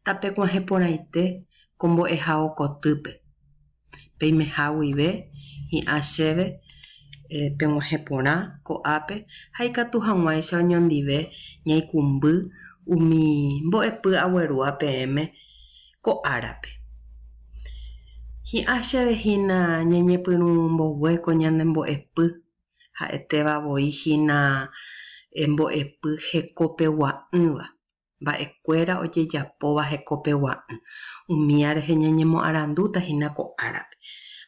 Tapekuãhe porãite ko mbo'ehao kotýpe. Peimeha guive hi'ã chéve peguãhe porã ko'ápe ha ikatu hag̃uáicha oñondive ñaikũmby umi mbo'epy aguerúa peẽme ko árape. Hi'ã chéve hína ñañepyrũ mbogue ko ñane mbo'epy, ha'etéva voi hína mbo'epy hekopegua'ỹva. mba'ekuéra ojejapóva hekopegua'ỹ, umía rehe ñañemoarandúta hína ko árape.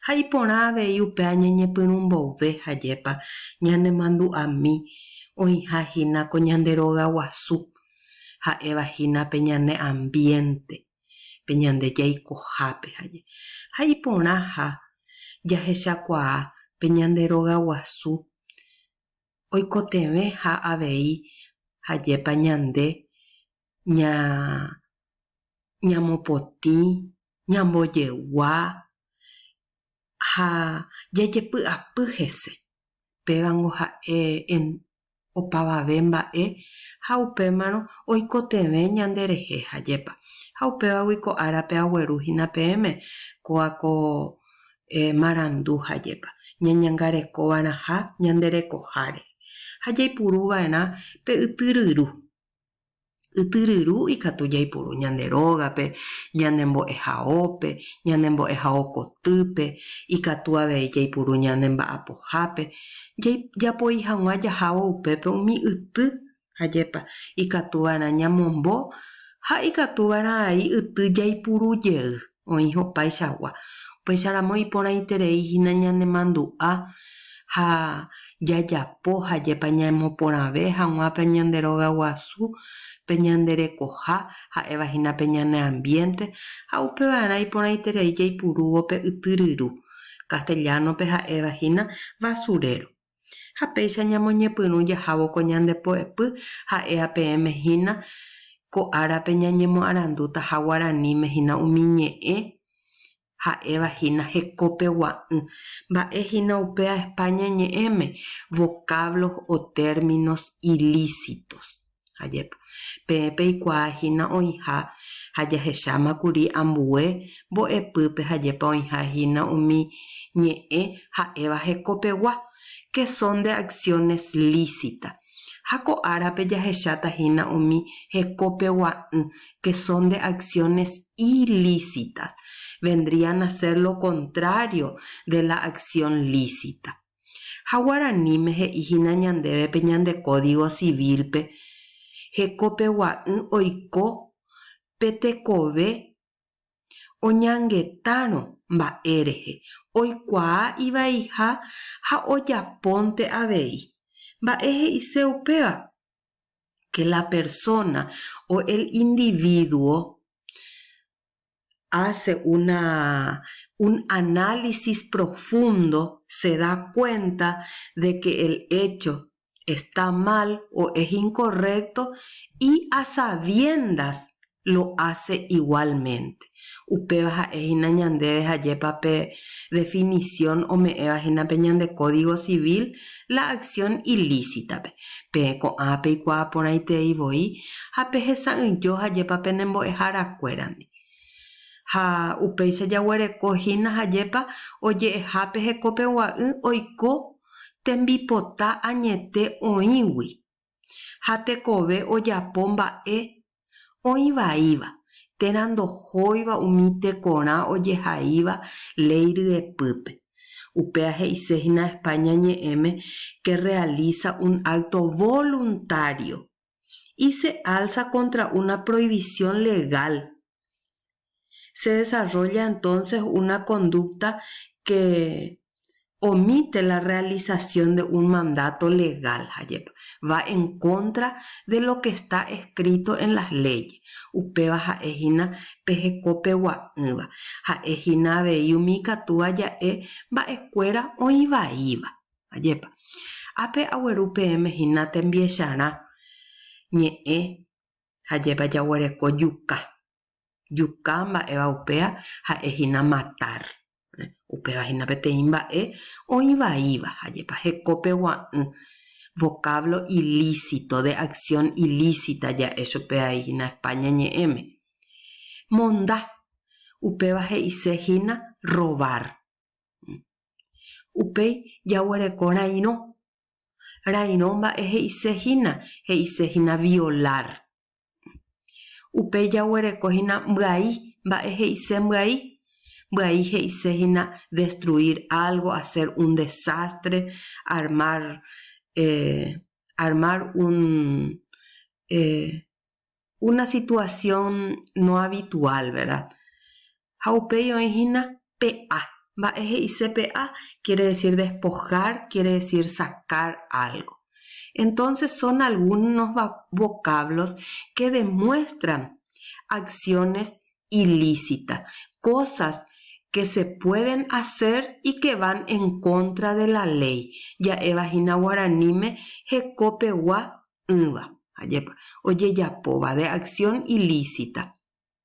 Ha iporã avei upéva ñañepyrũ mboyve ha jepa ñanemandu'ami oĩha hína ko ñande rogaguasu, ha'éva hína pe ñane ambiénte, pe ñande jaikohápe ha je. Ha iporãha jahechakuaa pe ñande rogaguasu oikotevẽ ha avei hajépa ñande ña ñamopotĩ, ñambojegua ha jajepy'apy hese. Pévango ha'e en opavave mba'e ha upémarõ oikotevẽ ñande rehe hajépa. Ha upévagui ko árape agueru hína peẽme kóa ko marandu ha jepa, ñañangarekova'erãha ñande rekoháre, ha jaipuruva'erã pe yty ryru. Yty ryru ikatu jaipuru ñande rógape, ñande mbo'ehaópe, ñande mbo'ehao kotýpe, ikatu avei jaipuru ñande mba'apohápe, japoi hag̃ua jahávo upépe umi yty Ajépa ikatuva'erã ñamombo ha ikatuva'erã ai yty jaipuru jey oĩha opaichagua. Upéicharamo iporãiterei hína ñanemandu'a ha jajapo ajépa ñamoporãve hag̃ua pe ñande rogaguasu, pe ñande rekoha, ha'éva hína pe ñane ambiénte, ha upeva'erã iporãiterei jaipurúvo pe yty ryru, castellano-pe ha'éva hína basurero. Ha péicha ñamoñepyrũ jahávo ko ñande poepy, ha'e ha peẽme hína ko árape ñañemoarandútaha guaraníme hína umi ñe'ẽ ha'éva hína hekópe gua'ỹ. Mba'e hína upéa España ñe'ẽme, vocablos o términos ilícitos. ha jepo, Peẽ peikuaa hína oĩha ha jahecháma kuri ambue mbo'epýpe ha jepa oĩha hína umi ñe'ẽ ha'éva hekopegua, que son de acciones lícitas, ha ko árape jahecháta hína umi hekopegua'ỹ, que son de acciones ilícitas, vendrían a ser lo contrario de la acción lícita. Ha guaraníme he'i hína ñandéve pe ñande Kódigo Sivílpe hekopegua'ỹ oiko pe tekove oñangetárõ mba'e rehe, oikuaa ivaiha ha ojapónte avei. Mba'e he'ise upéva? Ke la persóna o el indivíduo hace una, un análisis profundo se da cuenta de que el hecho está mal o es incorrecto y a sabiendas lo hace igualmente. Upéva ha'e hína ñandéve ha jépapa pe definición ome'ẽva hína pe ñande Código Civil, la acción ilícita-pe, peẽ ko'ã peikuaa porãitei voi ha pehesa'ỹijo hajépa pene mbo'eharakuérandi. Ha upéicha jaguereko hína hajépa oje'eha pehekopegua'ỹ oiko tembipota añete oĩgui. ha tekove ojapo mba'e oĩ vaíva térã ndohóiva umi tekorã ojehaíva léi ryepýpe. Upéa he'ise hína España ñe'ẽme que realiza un acto voluntario y se alza contra una prohibición legal Se desarrolla entonces una conducta que omite la realización de un mandato legal, jajepa, va en contra de lo que está escrito en las leyes, upéva ha'e hína pe hekopegua'ỹva, ha'e hína avei umi ikatu aja'e mba'ekuéra oĩ vaíva. Jajepa, ápe agueru peẽme hína tembiecharã ñe'ẽ, jajepa jaguereko juka, Juka mba'éva upéva ha'e hína matar. Upéva hína peteĩ mba'e oĩ vaíva, ajépa hekópe gua'ỹ. Vocáblo ilícito, de acción ilícita ja'e chupe ai hína España ñe'ẽme. Monda, upéva he'ise hína robar. Upéi jaguereko rairõ. Rairõ mba'e he'ise hína, he'ise hína violar. Upéi jaguereko hína mbyai, mba'e he'ise mbyai? Mbyai he'ise hína destruir algo, hacer un desastre, armar, eh, armar un, eh, una situación no habitual, ¿verdad? ha upéi oĩ hína pe a. Mba'e he'ise pe a? Quiere decir despojar, quiere decir sacar algo. Entonces son algunos vocablos que demuestran acciones ilícitas, cosas que se pueden hacer y que van en contra de la ley. Ja'éva hína guaraníme hekopegua ỹva, ajépa, ojejapóva, de acción ilícita.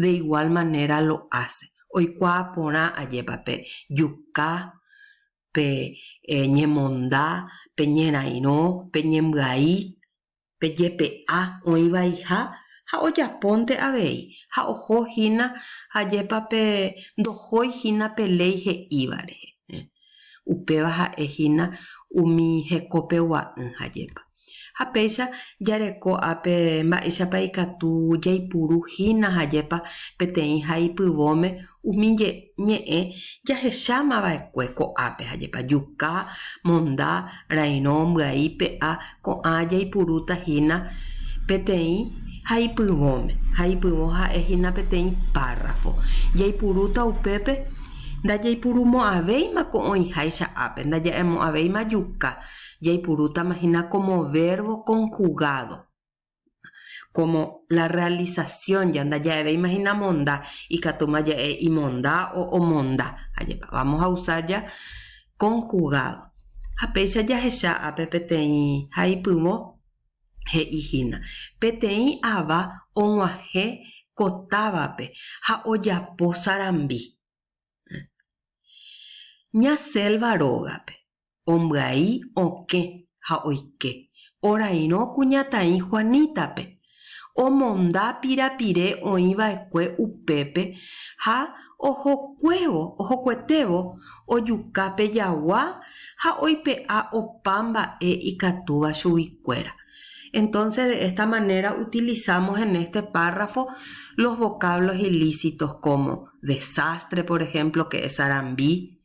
De igual manera lo hace. Oikuaa porã ajépa pe juka, pe ñemonda, pe ñerairõ, pe ñembyai, pe jepe'a oĩ vaiha ha ojapónte avei ha oho hína ajépa pe ndohói hína pe léi he'íva rehe. Upéva ha'e hína umi hekopegua'ỹ ha jepa. Ha péicha jareko ápe mba'éichapa ikatu jaipuru hína ha jepa peteĩ ha ipyvõme umi ñe'ẽ jahecháma va'ekue ko'ápe ha jepa, juka, monda, rairõ, mbyai, pe'a, Ko'ã jaipurúta hína peteĩ ha ipyvõme, ha ipyvõ ha'e hína peteĩ párrafo. Jaipurúta upépe ndajaipurumo'ãvéima ko oĩháicha ápe, ndaja'emo'ãvéima juka, jaipurútama hína kómo vérvo konhugádo. kómo la rrealisasión ja ndaja'eve imahinamomda, ikatúma ja'e imonda o omonda. Ajépa, vámos a usa ja konhugádo. Ha péicha jahecha ápe peteĩ ha ipyvõ, he'i hína, Peteĩ ava og̃uahẽ ko távape ha ojapo sarambi ña sélva rógape. ombyai okẽ ha oike orairõ kuñataĩ Juanítape, omonda pirapire oĩ va'ekue upépe ha ohokuévo ohokuetévo ojuka pe jagua ha oipe'a opa mba'e ikatúva chugui kuéra. Entonces de esta manera utilizamos en este párrafo los vocablos ilícitos como desastre, por ejemplo, que es sarambi,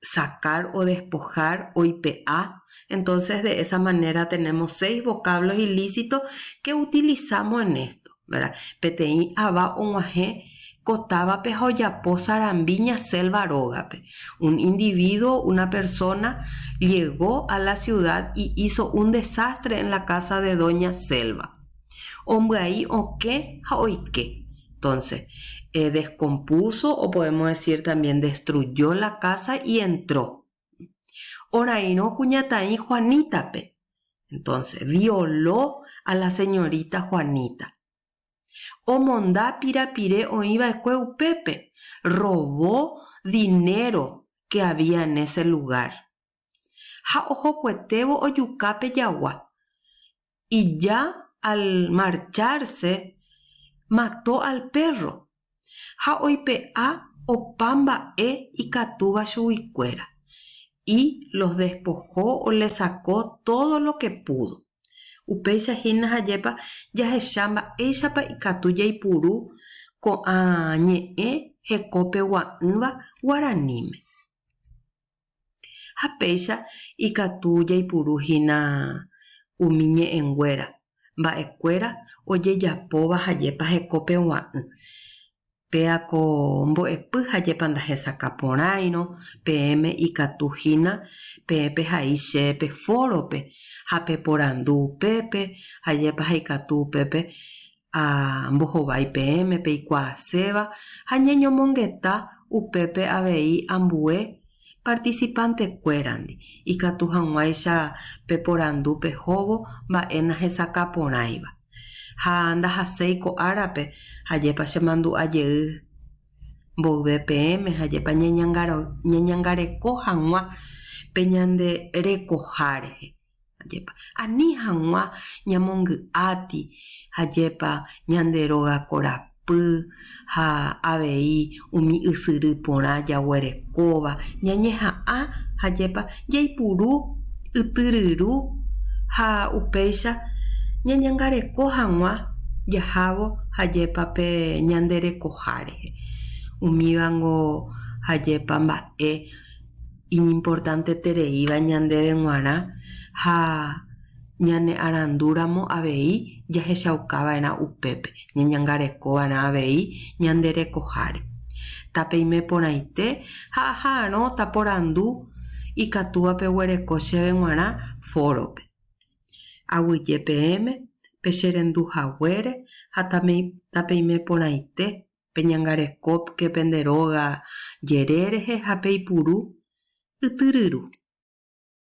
sacar o despojar, oipe'a, entonces de esa manera tenemos seis vocablos ilícitos que utilizamos en esto, ¿verdad? Peteĩ ava og̃uahẽ ko távape ha ojapo sarambi ñaselva rógape. Un individuo, una persona, llegó a la ciudad y hizo un desastre en la casa de doña Selva. Ombyai okẽ ha oike. Entonces, eh, descompuso o podemos decir también destruyó la casa y entró. Orairõ kuñataĩ Juanita-pe. Entonces, violó a la señorita Juanita. Omonda pirapire oĩ va'ekue upépe. Robó dinero que había en ese lugar. ha ohokuetévo ojuka pe jagua. Ija al marchárse mató al pérro ha oipe'a opa mba'e ikatúva chuguikuéra, y los despojó, olesakó tódo lo ke púdo. Upéicha hína jajépa jahecha mba'éichapa ikatu jaipuru ko'ã ñe'ẽ hekópe gua'ỹva guaraníme. Ha péicha ikatu jaipuru hína umi ñe'ẽnguéra, mba'ekuéra ojejapóva ha jepa heko pegua'ỹ. Péa ko mbo'epy ha jepa ndahesakã porãirõ, peẽme ikatu hína peẽ pehai che pe fórope ha peporandu upépe ha jepa ha ikatu upépe ha mbohovái peẽme peikuaaséva ha ñeñomongeta upépe avei ambue participante-kuérandi, ikatu hag̃uáicha peporandu pehóvo mba'e nahesakã porãiva. Ha ndahaséi ko árape, ajépa chemandu'a jey mboyve peẽme, ajépa ñañangareko hag̃ua pe ñande rekoha rehe. Ajépa. Ani hag̃ua ñamongy'áti, ajépa ñande róga korapy ha avei umi ysyry porã jaguerekóva, ñañeha'ã, ajépa jaipuru ytyryru ha upéicha ñañangareko hag̃ua jahávo, ajépa pe ñande rekoha rehe. Umívango, ajépa mba'e. iñimportantetereíva ñandéve g̃uarã ha ñane'arandúramo avei jahechaukava'erã upépe, ñañangarekova'erã avei ñande rekoháre. Tapeime porãite ha aha'arõta porandu ikatúva peguereko chéve g̃uarã fórope. Aguyje peẽme, pecherendu haguére ha tapeime porãite peñangarekópke pende róga jere rehe ha peipuru ytyryru.